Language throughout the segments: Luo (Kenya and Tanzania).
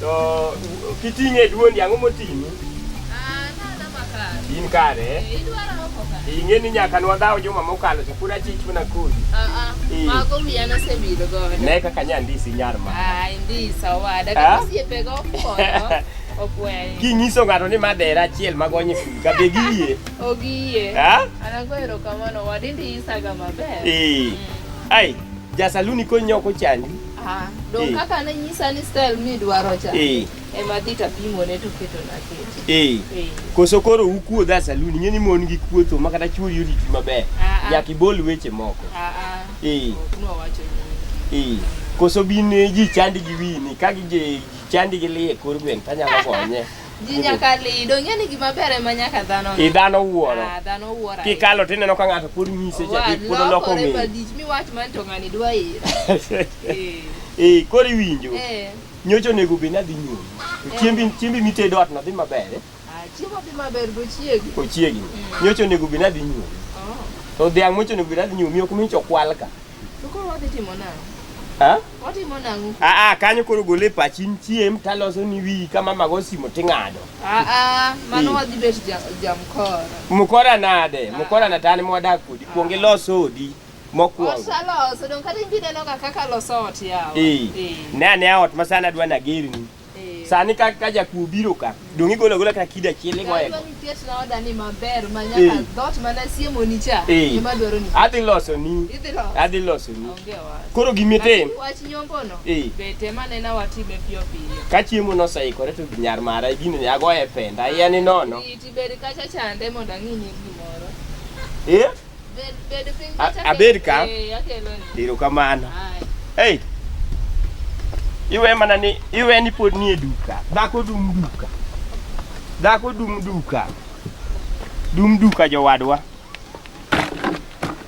To kiting'e e duondi ang'o moting'i? Ah, nada makare. In kare? Eh? eh, idwara oko kare. Ing'e ni nyaka nwadhaw juma mokalo to pura chich mana kodi. Ah, ah. Eh. Mago wiya nosebedo godo. Ne kaka nya ndisi nyar ma. Ah, ndisa owada. Ah? Kaka osiepego okonyo. Okweyo. Kinyiso ng'ato ni madera achiel magonye kudi ka be giyie. Ogiyie. Ah? Anagoero kamano wadi ndisaga maber. Eh. Mm. Ai, jasaluni konyo ok ochandi. Ah, dong eh. kaka ne nyisa ni style mi dwaro cha. Eh. Ema dhi tapimo ne to keto na keto. Eh. eh. Koso koro ukuo dha saluni ng'eni mon gi kuotho ma kata chuo yuri ti maber. Ah, ah. Nyaka ibol weche moko. Ah ah. Eh. Kuno wacho ni. Eh. Koso bin ji chandi gi wini ka gi chandi gi lie kor gwen tanyalo gonye. Ji nyaka li, donge ni gima ber ema nyaka dhano. I dhano wuoro. Ah, dhano wuoro. Kikalo tineno ka ng'ato pod nyise cha dik pod oloko ng'eyo. Lokore badich mi wach man to ng'ani dwa ira. Eh, eh kori winjo. Eh. Nyocho nego be nadhi nyuol. To eh. chiembi chiembi mitedo atna dhi maber. Eh? Ah, chiemo dhi maber go chiegi. Ko chiegi. Mm. Nyocho nego be nadhi nyuol. Oh. To dhiang' mocho nego be nadhi nyuol, miyo kumicho kwalka. To koro wadhi timo nang'o? Ha? Ah? Watimo nang'o? Ah ah, kanyo koro gole pachi chiem taloso ni wiyi ka mama go simo ting'ado. Ah ah, mano Hmm. wadhi bet ja- jamkoro. Mukora nade? Mukora na tani mwadak kodi. Kuong ilos odi mokwongo. Osaloso, dong kata inbi nenoga kaka loso ot yawa. Eh. Eh. Ne ane ot masana dwa nagerni. Eh. Sani ka ka jakuo biro ka, donge igolo agola kata kida chiel igoye. Adwa ni ket na oda ni maber ma Eh. nyaka dhoot mana siemo ni cha. Eh. Ema dwaro ni. Adhi loso ni, Idhi lo. adhi loso ni. Onge wach. Koro gimitim, Lakini Wach nyombo no. Eh. Be tema nena watime piyo piyo. ka chiemo noseikore to nyar mara gini ne agoye penda, iya ni nono. Iti beri kacha chande mondo ang'inyi gimoro. Eh? Abed ka. Erokamano. Hey. Iwe mana ni iwe ni pod nie duka. Dhako dum duka. Dhako dum duka. Dum duka jowadwa.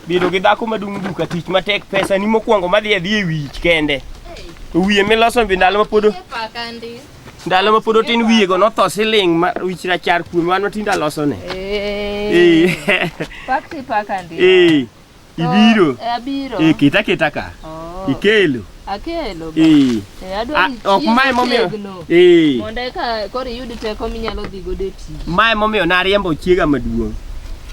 Bedo gi dhako ma dum duka tich matek pesa ni mokwongo madhi adhi e wich kende. To wiye miloso bi ndalo ma pod Ndalo ma pod otin wiyego notho siling' ma wich rachar kuome wan matinde alosone. Eh. Eh. Pak ti pak andi. Eh. Ibiro. Oh, eh, abiro. Eh, kita kita ka. Oh. Ikelo. Akelo. Eh. Eh, adwa. Ah, ok mae momiyo. Eh. Mondo eka koro iyud teko minyalo dhi godo e tich. Mae momiyo nariembo chiega maduong'.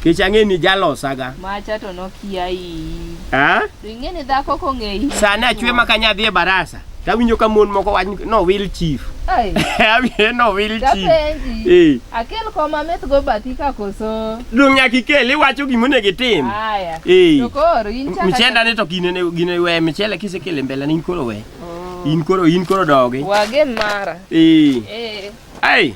Kech ang'e ni jalosaga. Macha to nokia iyi. Ha? Ing'e ni dhako kong'eyi. Sani achwe ma kanya dhi e barasa. Tawinjo ka mon moko wach ni no will chief. Ai, Awiye no will chief. dapenji. Eh, Akel koma meth go bathi ka koso. dong' nyaka ikel iwacho gima onego itim. Haya. Eh. To koro in chaka. Michenda ni to gine ne gine we michele kisekele mbele ni in koro we. Oh. In koro in koro dogi. Wagen mara. Eh. Eh. Ai,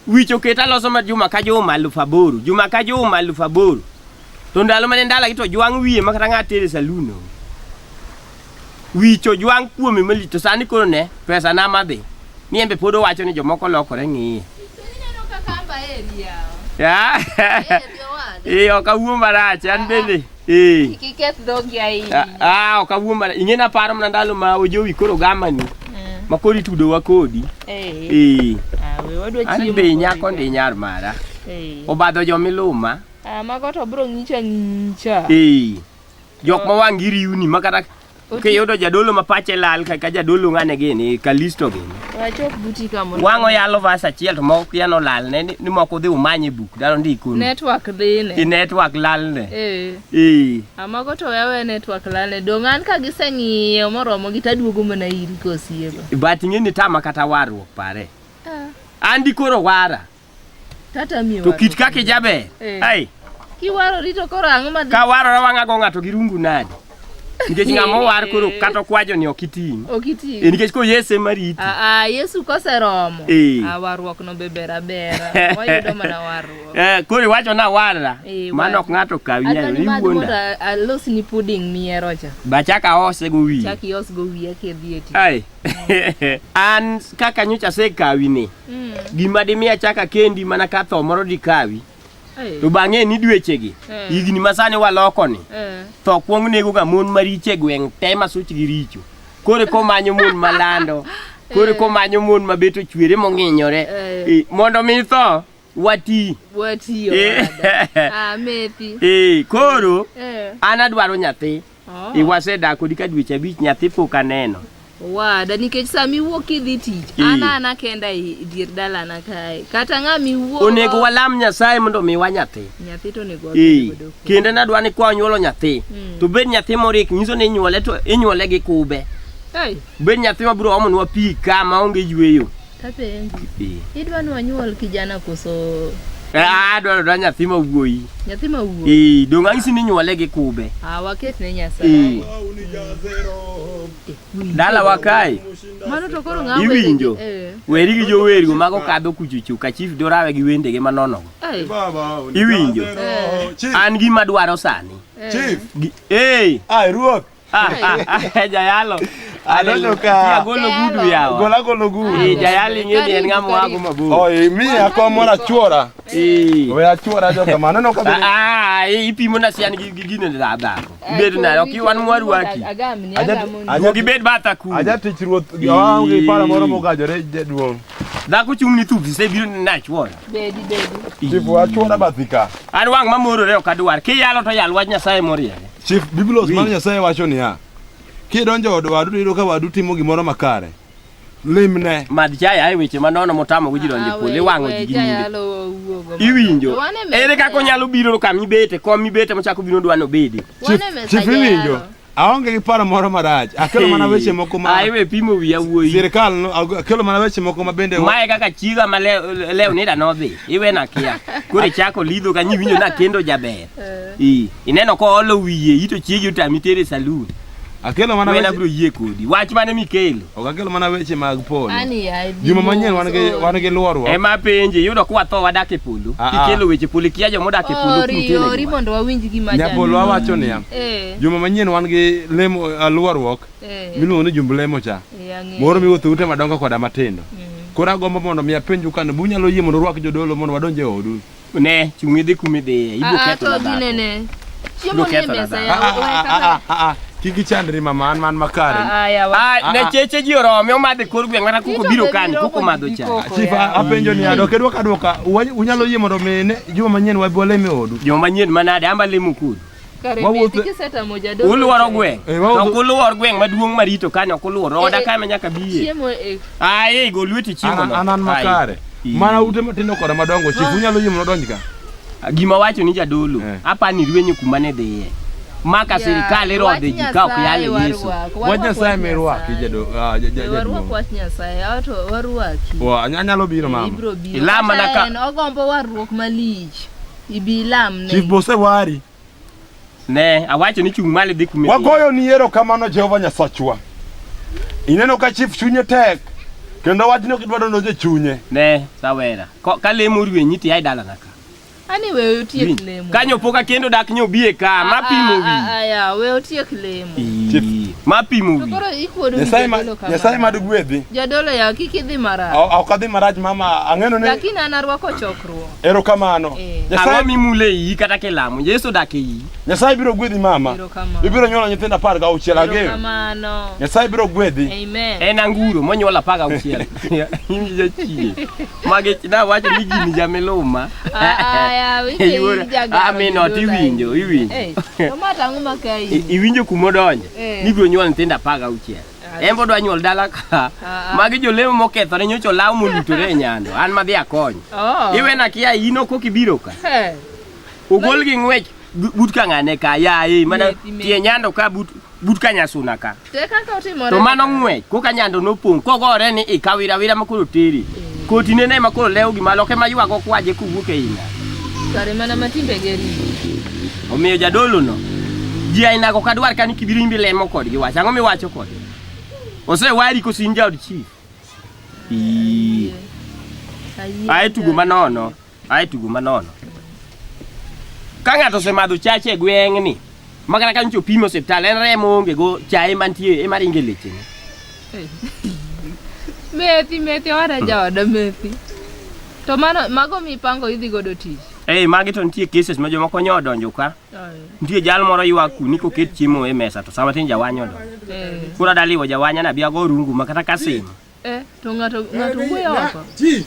Wich oket aloso ma juma ka juma aluf aboro, juma ka juma aluf aboro. To ndalo mane ndala gi to jwang' wiye ma kata ng'at tere saloon no. Wich ojwang' kuome malich to sani koro ne pesa na madhi. Ni embe pod owacho ni jomoko lokore ng'iye. Ya. Eh, ok awuo marach an bende. Eh. Kik iketh dhogi ahinya. Ah, ah, ok awuo mana. Ing'eni aparo mana ndalo ma ojowi koro gamani Eh, ma koro itudowa kodi. eh. Eh. Ah, we wadwa An chiemo be kodi nyako ka. ndi nyar mara. Eh. Obadho jomiluma. Ah, mago to bro ng'icha ng'icha. Eh. Jok ma wang' iriwni ma kata Kiyudo jadolo ma pache lal kaka jadolo ng'ane gini, Kalisto gini. Wachop buti ka mondo. Wang'o yalo vas achiel to moko kia nolal ne ni ni moko dhi umany e buk dano ndiko ni. Network dhi ne. I network lal ne. Eh. Ee. Amago to wewe network lale. Dong' an ka giseng'iyo moromo gi taduogo mana iri kosiego. But ing'e ni tama kata warruok pare. Ah. Andi koro wara. Tata miyo. To kit kake jaber. Eh. Ai. Kiwaro rito koro ang'o ma Ka waro na wang'ago ng'ato gi rungu nade? Nikech ng'ama owar koro eh. kata kwajo ni ok iting'. Ok iting'. Eh, nikech ko Yesu ema riti. Ah, ah Yesu koseromo. Eh. Ah, warruok no bebera bera. Wayudo mana warruok. Eh, koro iwacho na warra. Eh, Mano ok ng'ato kawi nyalo ni wuonda. Alos ni pudding miero cha. Bachaka ose go wiye. Chaki os go wiye ke dhieti. Ai. An kaka nyocha se kawi ni. Mm. Gima dimi achaka kendi mana ka tho moro dikawi. Hey. To bang'e ni dwechegi hey. Eh. higni ma sani waloko ni hey. Eh. tho kwong nego ga mon mariche gweng' te ma such gi richo kore ko manyo mon malando kore ko eh. manyo mon ma beto chwere mong'inyore hey. mondo mi tho wati wati yo amethi hey. koro hey. an adwaro nyathi Oh. Iwasedaa kodi ka dweche abich nyathi pok aneno. Wada nikech sama iwuok idhi tich, Ee. ana ana kenda e dier dalana kae. Kata ng'ama iwuok. Onego walam Nyasaye mondo omiwa nyathi. Nyathi to onego Ee, wabed godo. kendo nadwa ni kwa nyuolo nyathi Mm. to bed nyathi morik nyiso ni inyuole to inyuole gi kube Hey. bed nyathi mabiro omonwa pi ka ma onge yweyo Tapenji. Idwa ni wanyuol kijana koso Ah, dwaro dwa nyathi ma wuoyi. Nyathi ma wuoyi. Eh, donge ang'isi ni nyuole gi kube. Ah, waket ne Nyasaye. Dala wakae. Mano to koro ng'awe. Iwinjo. Eh. Weri gi joweri go mago kadho kuchuchu ka chief dorawe gi wendege manono. Eh. Iwinjo. Eh. An gi madwaro sani. Chief. Eh, ah, ruoth. jayalo aneno ka agolo gudu yawa gola golo gudu eh jayalo ingeni en ngamo wago mabor oh eh, mi ako mora chuora eh we achuora jo kama aneno ka ah ipimo na sian gi gine da da bed na ok wan mwaru waki aja gi bed bata ku aja tich ruoth gi wangi para moro mogajore jaduong dhako chung' ni thuth se biro nachuola bedi bedi chifu achuola bathika an wang' mamorore ok adwar kiyalo to yal wach nyasaye moriere Chief Biblos mar Nyasaye wacho niya, kidonjo od wadu to iyudo ka wadu timo gimoro makare. Limne. Mad chaya e weche manono motamo go ji donjo e polo iwang'o ji gi nyinge. Iwinjo. Ere kaka onyalo biro ka mibete, kom mibete mochako biro dwa nobedi. Chief Chief iwinjo. Aonge gi paro moro marach. Akelo mana weche moko ma Ai we pimo wiya wuoyi. Sirkal no akelo mana weche moko ma bende Mae kaka chiga ma le- leo nida nodhi. Iwe na kia. Koro ichako lidho ka nyiwinjo na kendo jaber. Eh. Ii. Ineno ko olo wiye ito chiegi otami tere saloon. Akelo mana weche. Abiro yie kodi. Wach mane mikelo? Ok akelo mana weche mag polo. Juma manyien wan gi wan gi luorwa. Ema penje yudo kwa tho wadak e polo. Ah, ah. Kikelo weche polo kia jo modak e polo kute. Ori mondo wawinj gima jalo. Nyapolo wawacho niya. Eh. Juma manyien wan gi lemo eh, luorruok. Eh. Miluongo ni jumb lemo cha. Moro miwuotho ute madongo koda matindo. Mm. Koro agombo mondo mi apenju kan bunyalo yie mondo rwak jodolo mondo wadonje odu. Ne, chung' idhi kuma idhiye. Ibiro Ah, ah, ketho to na dhako. ginene. Chiemo Ibiro nie ketho na mesa dhako. yawa. Owe kaka. Kik ichandri mama an man makare. Ah, ah, yawa. Ah, ne cheche ji orome omadhe kor gweng' mana kuko biro kani kuko madho cha. Koko Chief yawa. apenjo ni adok edwok adwoka Wa- unyalo yie mondo mi ne juma manyien wabi walem e odu. Joma nyien manade amba lemo kudu. Uluoro gweng'. Eh, ok uluor gweng' maduong' marito kani ok uluor. Eh, Oda eh. kae ma nyaka biye. Aye, go lweti chiemo no. Anan makare. Mana ute matindo koda madongo chief ah. unyalo yie mondo donj ka. Ah, gima wacho ni jadolo, apa ni rwenyo kuma ne dhiye. Maka sirikal irodhe ji ka ok yale Yesu. Wach Nyasaye mi rwaki jadolo. Ah, warwak wach Nyasaye, ato warwaki. Wa anyalo biro mama. Ilama na ka. Ogombo warruok malich. Ibi ilam ne. Chief Bose wari. Ne, awacho ni chung' malo idhi kumi. Wagoyo ni yero kamano Jehova Nyasachwa. Ineno ka chief chunye tek kendo wachni ok idwaro noje chunye. Ne, sawera. Ko- Ka lemo rwenyi ti ai dalana ka. Ani we otiek lemo. Kanyo poka kendo dak nyobie ka, ma pimo wi. Aya, we otiek lemo. Ii, Ma pimo To wi. koro ikuodo ni Nyasaye ma jadolo kamano. Nyasaye mad gwedhi. Jadolo ya kik idhi marach. Ok adhi marach mama, ang'eno ni Lakini an arwako choko. Ero Erokamano. Eh. Ang'o Nyasaye mimule iyi kata kilamo? Yesu odak e iyi. Nyasaye biro gwedhi mama. Erokamano. Ibiro nyuolo nyithindo apar gauchiel ageo. Erokamano. Nyasaye biro gwedhi. Amen. En anguro monyuol apar gauchiel. In jachie. Mage nawacho ni gini jamiluma. Ah, ah, yawi, Iwuoro- in jagoro, Ah, min ot jagoro. iwinjo, iwinjo. Eh, to ma tang'o ma ka I- iyi. Iwinjo kumodonjo Eh. ni ibiro nyuol nyithindo apar gauchiel. en bodwa nyuol dala ka ah, ah. magi jolemo mokethore nyocha olaw molutore e nyando an madhi akony oh. iwena kia in ok ok ibiro ka ogol gi ng'wech but ka ng'ane ka yaye mana tie nyando ka but but ka nyasuna ka to mano ng'wech koka nyando nopong' kogore ni ikawira wira makoro teri eh. koti nene makoro lewo gima loke maywago kwaje kowuok e ina kare mana matimbege riyo Omiyo jadolono ji ainago ok adwar ka ni kibirimbi lemo kodgi wach ang'o miwacho kodgi osewari koso in jaod chief Ii. ae tugo manono ae tugo manono ka ng'ato osemadho chache e gweng'ni ma kata ka nyocha opimo osiptal en remo onge go chaye mantie ema ringe lechene Methi, methi, ora jaoda methi. To mano, mago mipango idhi godo tich. Ei, magi to nitie cases ma jomoko nyo odonjo ka. Nitie jal moro ywak ku ni koket chiemo e mesa to sama tin jawanya odonjo. Eh. Koro adaliwo jawanya na biago rungu ma kata kasim. Eh, to ng'ato ng'ato wuoyo oko. Chief.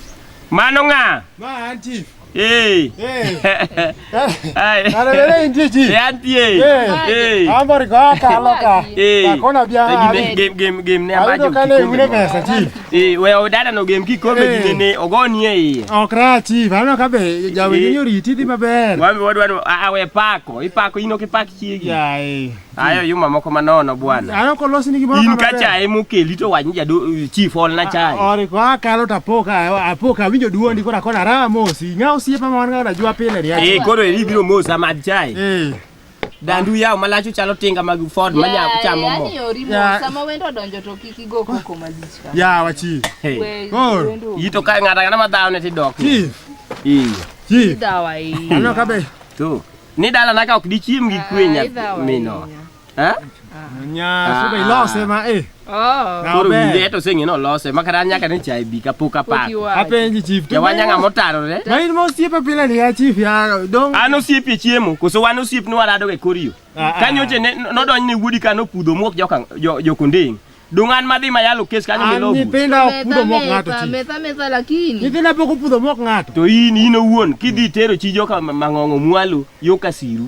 Mano ng'a? Ma an chief. Hey. Hey. Hey. Alelele intie chief. Yantie. Hey. Ambari kwa kaloka. Hey. Kakona biara. Game game game ne ambaje. Ayudo kale ule mesa chief. Eh, we odada no gem kikombe Eh. gine ne ogoni e iye. Ok rach chief, aneno ka be jawer Eh. ni oriti dhi maber. Wambe wadwa ni a we pako, ipako ino kipak chiegi. Yae. Ayo yuma moko manono bwana. Aneno ka olosni gimoro In ka maber. chae mokeli to wach ni jado chief ol na chae. Ori ko akalo to apo ka apo ka winjo duondi kora kona raha mosi. Ng'a osiepa ma wan ga najua pile ni Eh acha. koro eri biro mosa mad chae. Eh. Dandu yaw malachu chalo tinga mag Ford ma nya chamo mo. Yaani yori mo Yeah. sama wendo odonjo to kik igo koko malich ka. Yawa chief. Hey. We- Koro. wendo Yito ka ng'ata ng'ata ma dhawo ne tidok. Chief. Ii. Chief. idhawa ahinya. Aneno kabe. Tu. Ni dala naka ok dichiem gi kwe Ah, idhawa nyathi mino. ahinya. Ha? Nya su bai lo se ma eh. Oh. Na Koro be. winde to sing ino lose makata nyaka ni chai bi ka puka pa. Pok iwacho. Apenji chief. to Ya wanya ngamo taro re. Ma in mo siepe pile ni ya chief ya dong. An osiep e chiemo koso wan osiep ni warado e koriyo. Ah, ah. Ka nyoche ne nodonj ne wuodi ka nopudho muok joka jo- jokondeng. Dong an madhi mayalo kes kanyo An milogu. nyithinda ok pudho mok ng'ato Metha, chief. metha, metha lakini. Nyithinda pok opudho mok ng'ato. To in in owuon kidhi tero chi joka ma- mang'ong'o mwalo yo kasiru.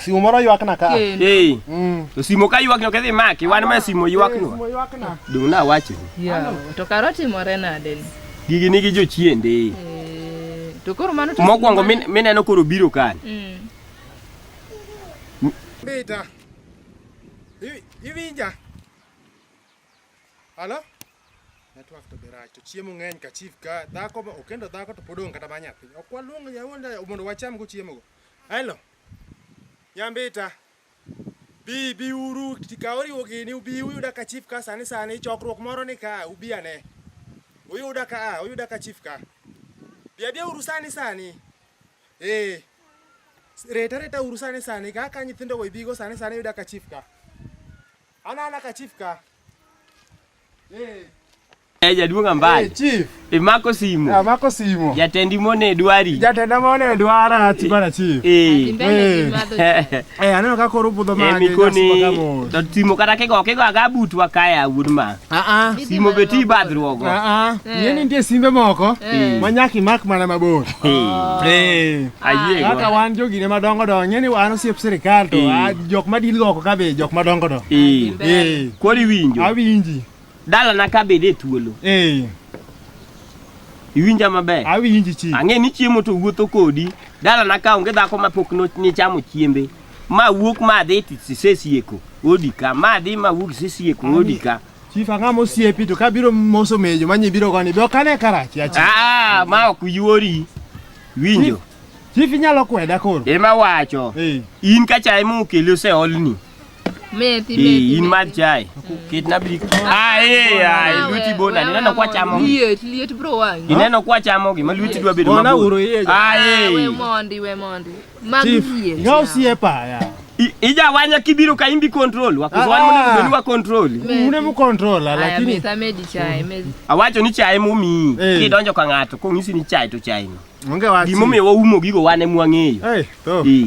Simo moro ywakna ka. Kendo. Hey, Mm. to simo ka ywak nyoke dhi maki, wan ma simo ywak no. Simo ywakna. Dong' na wacho. Yawa, to kara otimore nade ni? Gigi nigi jochiende. Eh, To koro mano to- Mokwongo min- mineno koro biro kani. Mm. Beta. Iwi- Iwinja. Halo? Network to be right. To chiemo ng'eny ka chief ka dhako ma- okendo dhako to pod onge kata ma nyathi. Ok waluong yawuonda mondo wacham go chiemo go. Hello. Nyambita, bi bi uru ka oriwo gini ubi uyuda ka chief ka sani sani chokruok moro ni ka ubi ane. Uyuda ka a uyuda ka chief ka. Bi abi uru sani sani. Eh. Reta reta uru sani sani ka ka nyithindo go ibigo sani sani uyuda ka chief ka. Ana ana ka chief ka. Eh. Eh, jaduong' ambaye. Eh, chief. Imako simu. Ah, mako simu. Jatendi mone dwari. Jatenda mone dwara ati bana chief. Eh. Eh. Eh, aneno ka koro budho mage. Eh, mikoni. To simu kata kigo kigo aga butu akaya wuod ma. Ah ah. Simu beti badruogo. Ah ah. Eh. Yeni ndie simbe moko. Eh. Manyaki mak mana mabor. Ah. Eh. Ayie. Ah, kaka wan jogi ne madongo do. Yeni wan osiep sirkal to ah, jok madil go ko kabe jok madongo do. Eh. Eh. Kori winjo. Awinji. Dalana ka bede thuolo. Eh. Iwinja maber. Awinji chi. Ang'e ni chiemo to wuotho kodi. Dalana ka onge dhako ma pok nichamo chiembe. Ma wuok ma dhi tisesieko odi ka. Ma dhi ma wuok sesieko odi ka. Chief ang'a mosiepi to kabiro moso mejo manyi biro goni be ok ane karachi achi. Ah, ma ok yuori. Winjo. Chief inyalo kweda koro. Ema wacho. Eh. In kacha ema okeli oseolni. Methi, methi, in mad chai kitna bi aye aye luti bona nineno kwa chamo liet liet bro wangi nineno kwa chamo gima luti dwa bedo mabor bona uro ye aye we mondi we mondi mag liet ngao sie pa ya ija wanya kibiro ka imbi control wakuwan mune kubeni wa control mune mu control lakini mesa medi chai medi awacho ni chai mumi hey. Eh. kidonjo ka ngato kongisi ni chai to chai no onge wachi gimomiyo waumo gigo wane mwang'eyo hey, to. Hey.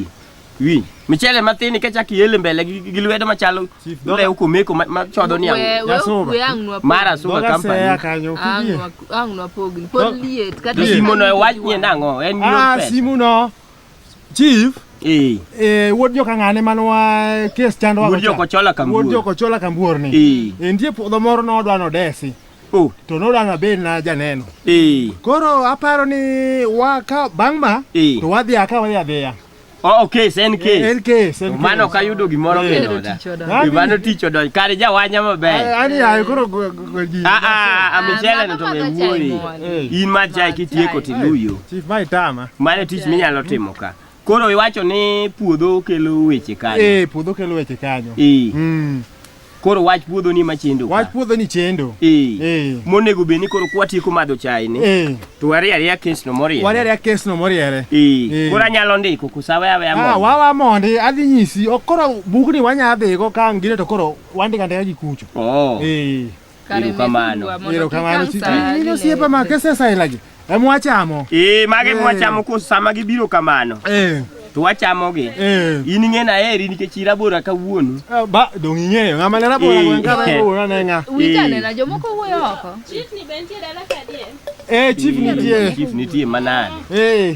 Winj. Michele mathin nikech ak iele mbele gi gi lwedo machalo Chief, dog- lew komeko ma- ma chodo ni We- ang'o. we- Jasunga. we ang' nwapog- Mara sunga Doga seya company. kanyo. ang' kidie. nwa- ang' nwapogni. Pod Dog- liet, kata To Liet. simo no iwach ni en ang'o? En Ah, your pet. simu no. Chief, Eh. eh, wuod joka ng'ane mane wa kes chandwa Wuod joka Ochola Kambuor. Wuod joka Ochola Kambuor ni. Eh. Eh, nitie puodho moro nodwa nodesi Oh. to nodwa nabed na janeno. Eh. Koro aparo ni wa ka bang' ma Eh. to wadhi aka wadhi adhiya. Oh, okay, sen case. Eh, en case, en Mano case. kayudo gimoro Eh. kendo da. Yaani- Mano tich odonjo. Kare jawanya maber. Yaani hayo koro go- go- go- ji- Ah ah, Ah, amechele mama to madho chai wuoyi. mwan. Eh, In ma chai kitieko chai. tiluyo. Chief Mai Tama. Mano tich minyalo timo ka. Koro iwacho ni puodho kelo weche kanyo. Eh, puodho kelo weche kanyo. Eh. Mm. Koro wach puodho ni machendo. Wach puodho ni chendo. Eh. Eh. Monego be ni koro kwatieko madho chai ni. Eh. To wari ariya kes no moriere. Wari ariya kes no moriere. Eh. eh. Koro anyalo ndiko kusawe awe amondi. Ah, wawa mondi adhi nyisi. Okoro bugni wanya adhi go ka ngire to koro wandika ndika gi kucho. Oh. Eh. Kare kamano. methurwa mondo Ero kik kamano ang' si- sa in ine. osiepa ma kesesailagi em wachamo. Ee, mage Eh. mwachamo ko sama gibiro kamano. Eh, To wachamogi. eh. In ing'e na heri nikech irabora kawuono. Ah, Ba dong ing'eyo ng'ama ne rabora Eh. gweng' ka ne owuoyo ne ng'a. Winjo Eh. anena jomoko wuoyo oko. Eh chief nitie. Chief nitie manade. Eh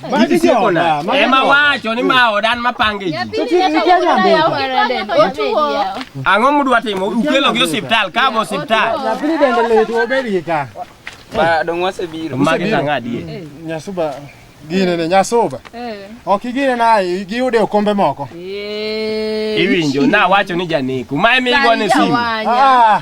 Ema wacho ni ma odan ma pange ji. Ang'o mudwa timo? Ukelo gi osiptal, ka bo osiptal. Nyathini dende lit obed gi ka. Ba dong wasebiro. Magi tanga adie. Nyasuba gine ne nyasuba. Ok igine na giyude okombe moko. Iwinjo na wacho ni janeku. Ma emi igone simu. Ah.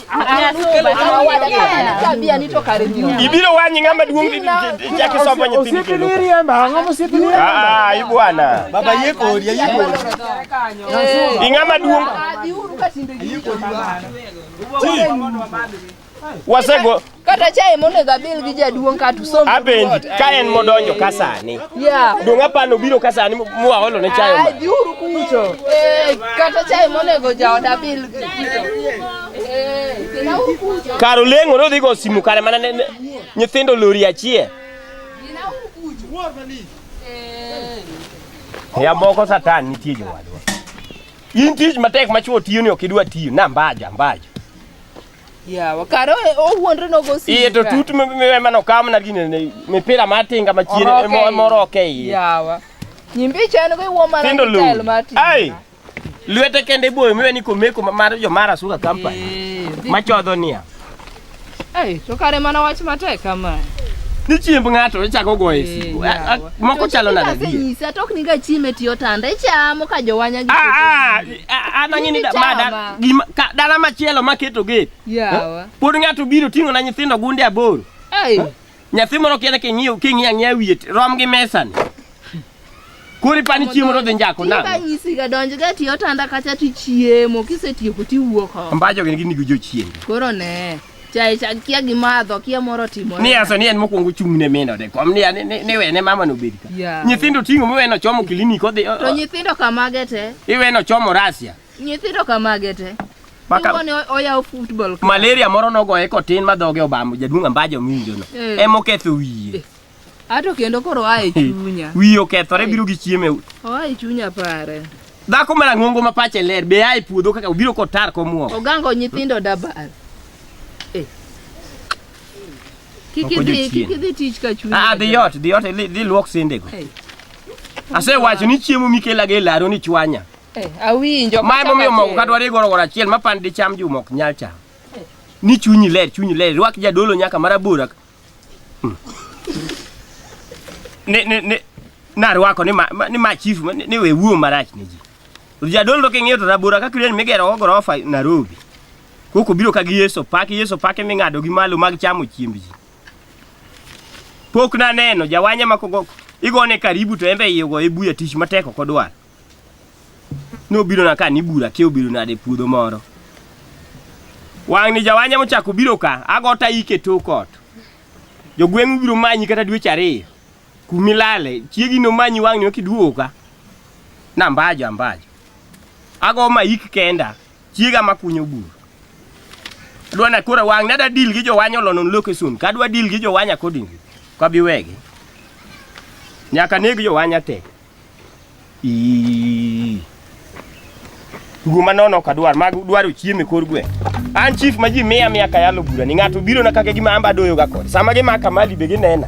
Ibiro wanyi ng'ama duong' chaki sombo nyithindo kendo. Ah, i bwana. Baba yie kodi, yie kodi. I ng'ama duong'. Wasego kata chae monego abil gi jaduong' kata usom apenji ka en modonjo ka sani yeah. dong' apano biro ka sani mwaolo ne chae ma biuru kucho eh, kata chae monego jaoda bil eh, kar oleng'o nodhi go simu kare mana nyithindo lori achie eh. ya moko satan nitie jowadwa in tich matek machuo tiyo ni ok idwa tiyo na mbaja mbaja Yawa kare owuondre nogo sika. Iye to tut mano kam na gine ne mipira matinga machien e moroke iye. Yawa. Nyimbi chano go iwo mana tel matin. Ai. Lwete kende boyo miwe ni komeko mar jo mara suka kampa. Eh, Machodho niya. Ai, to kare mana wach matek kama. Ni chiemb ng'ato ichako e goye eh, siku. Moko chalo nade? Nyisa tok niga chieme tiyo tanda ichamo ka jowanya gi. Ah, ah. Adanye ni mada gima dala machielo maketo ge. Yawa. Pod ng'ato biro ting'o na nyithindo gunde aboro. Ei. Nyathi moro kiende king'iyo king'iyo ang'iya wiye rom gi mesani. Kuri pani chiemo rodhi njako na. Ka nyisi ga donjo ga tiyo tanda kacha tichiemo kisetieko tiwuok. Mbajo gin gin gi jochiemo. Koro ne. Chai cha kia gimadho kia moro timo. Ni asa ni en mokwongo chung' ne mino de kom ni ane ni we ne mama no bedi ka. Yeah. Nyithindo ting'o mi weno chomo klinik odhi. o- To o- nyithindo kamage te. Iweno chomo Russia. Nyithindo kamage te. Maka- Ingo ni o- oyawo football. club. Malaria moro nogoye kotin ma dhoge obamo jaduong' ambajo miwinjono. Eh. Ema oketho wiye. Ato kendo koro oa e chunya. Wiyi okethore biro gi chiemo e udi. Oa e chunya pare. Dhako marang'ongo ma pache ler be a e puodho kaka obiro kotar komwom. Ogango nyithindo dabal. Eh. Kik Ok idhi odiochieng'. kik idhi tich ka chunya. Ah, dhi ot, dhi ot, dhi dhi luok sendego. Eh. Asewacho ni chiemo mikelaga e laro ni chwanya. Eh, awinjo. Mae kachako momiyo mogo achiel. kadwaro igoro goro achiel ma pan dicham juma ok nyal cham. Ni chunyi ler, chunyi ler, rwak jadolo nyaka marabora ni ni ni narwako ni ma, ma- ni ma chief ma- ni, ni we wuo marach ne ji jadolo king'iyo to rabora ka kireni migero go gorofa Nairobi koko biro ka gi Yeso Park Yeso Park ming'ado gi malo mag chamo chiemb ji pok naneno jawanya ma kogo igone karibu to embe iye go ibuya tich matek ok odwar nobiro na ka nibura kia obiro nade puodho moro wang' ni jawanya mochako biro ka agota ike tok ot jogweng' ubiro manyi kata dweche ariyo kumilale chiegi nomanyi wang' ni okiduogo ka nambajo ambajo ago ma ik kenda chiega makunyo buru adwa na kora wang' nada deal gi jowanya olonon location kadwa deal gi jowanya accordingly kabiwegi nyaka neg jowanya te Ii. Tugo manono ok adwar, mag dwaro chiemo e kor gweng'. An chief ma ji miya miya ka yalo bura ni ng'ato biro na kaka gima amba doyo ga kod. Sama gimaka mali be ginena.